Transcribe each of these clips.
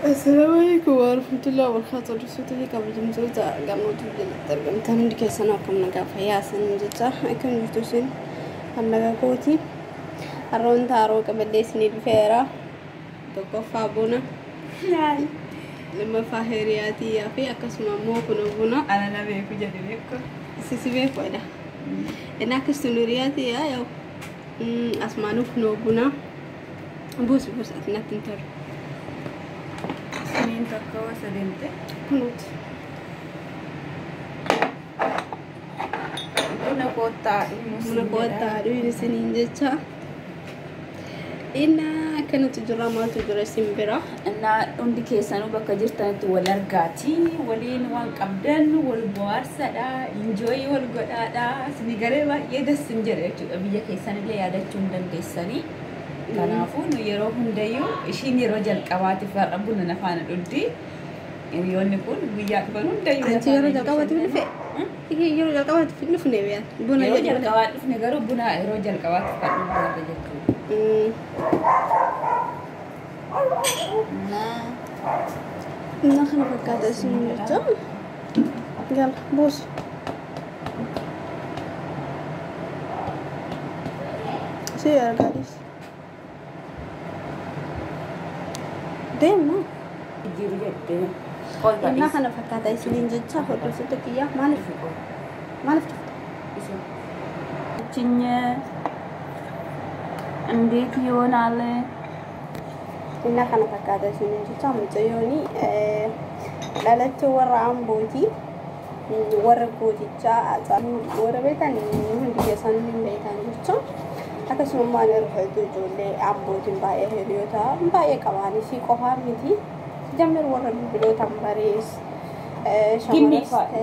Assalamu alaikum warahmatullahi wabarakatuh. Dursota fi kabajamtoota gamootu jalatti argamtan hundi keessan akkam nagaa fayyaa isaanii jecha akkam jirtu isin kan nagaa kooti. Har'a wanta haroo qabadhee isinii dhufeera. Tokkoffaa buna, lammaffaa hiriyaa tiyyaa fi akkasuma immoo kun buna alala beeku jedhe beeku. Sisi beeku jedha. Inni akkasuma hiriyaa tiyyaa yoo asmaanuu kun buna. Buusi buusi ati natti hin tolu. Siniin takka wasa deemte. Kunuuti. Buna koottaa dhumu Buna koottaa dhuyin isiniin jecha. Inna akkanatti jira maaltu jira isin bira. Innaa hundi keessanuu bakka jirtanitti wal argaat. Isinii waliin wan qabdan wal bohaarsadha enjoy wal godhaadha isinii galee baay'ee das sin jedha jechuudha biyya keessanillee yaadachuu hin dandeessanii kanaafuu nu yeroo hundayyuu ishiin yeroo jalqabaatiif har'a buna na faana dhugdi hiriyoonni kun guyyaa dhufan hundayyuu na Anti yeroo faana jalqabaatiif hin dhufe? bashannanu. Ihe yeroo jalqabaatiif hin dhufne beeyan. Buna yeroo jedhu malee. jalqabaa dhufne garuu buna yeroo jalqabaatiif kan dhugdu jechuudha Mm. Innaa kana fakkaata isin jecha. Gala buusi. Si argaa dhiisi. Deemna. Jiru jettee. Ol Innaa badhiis. kana fakkaata isiniin jecha hordoftoota kiyyaa maaliif maaliif dhufte? Isin. Achinyee. Indeet yoonaale. Inna kana fakkaata isiniin jecha mucayyooni dhalattee warra ambooti warra gootichaa haacaaluu warra beekan hundi keessan hin beekan jecha akkasuma immoo ani irra hedduu ijoollee ambootiin baay'ee hiriyoota baay'ee qabaan isii qofaa miti jammer warra bilbilootaan barees shamaras ta'e.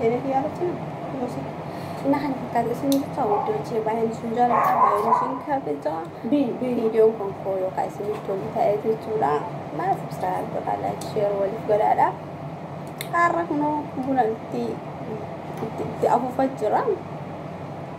Deemee fi yaalatti nama. Gosa. Innaa kana fakkaata isin jecha wajjin hojii baay'een isin jaalladha baay'een isin kabajaa. Bii bii. Viidiyoon kun koo yookaan isiniif tolu ta'ee jechuudha. Mana subscribe godhaa like share waliif godhaadha. Har'a kunoo buna itti itti itti afuufaa jira.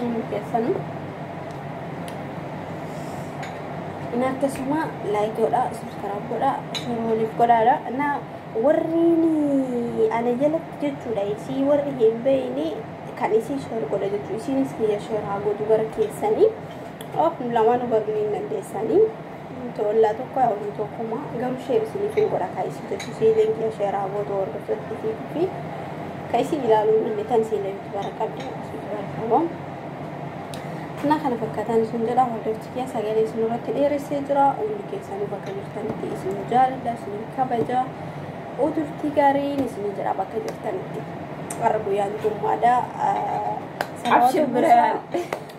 Inni keessanu inni akkasuma laayik godha subskaraab godha sheer waliif godhaadha na warri ana jalatti jechuudha isii warri hin beeyne kan isii sheer godha jechuudha isiinis kiyya sheer haa godhu gara keessanii of lamaanuu baruu hin dandeessanii. Nuti ollaa tokko haa oluu tokkuma garuu sheer isiniif hin godha kaa isii jechu isii ileen kiyya sheer haa gootu hordoftotti fi fi ka isii ilaaluu hin dhanne tan isii ilee yutubara qabdi isii yutubara qaba na kana fakkataan isin jedha hordofti kiyya sagalee isin irratti dheeressee jira hundi keessanuu bakka jirtanitti isin jaaladha isin kabaja uturtii gaariin isin jedha bakka jirtanitti warra guyyaan jummaadha Abshir biraan.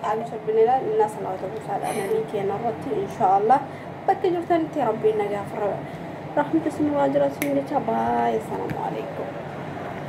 Aamiin Rabbinilaa innaa salaata buusaadha namii keenya irratti inshaa Allah bakka jirtanitti Rabbiin nagaa fi rahmata isinirraa jiraatu isin jecha baay'ee salaamu alaikum.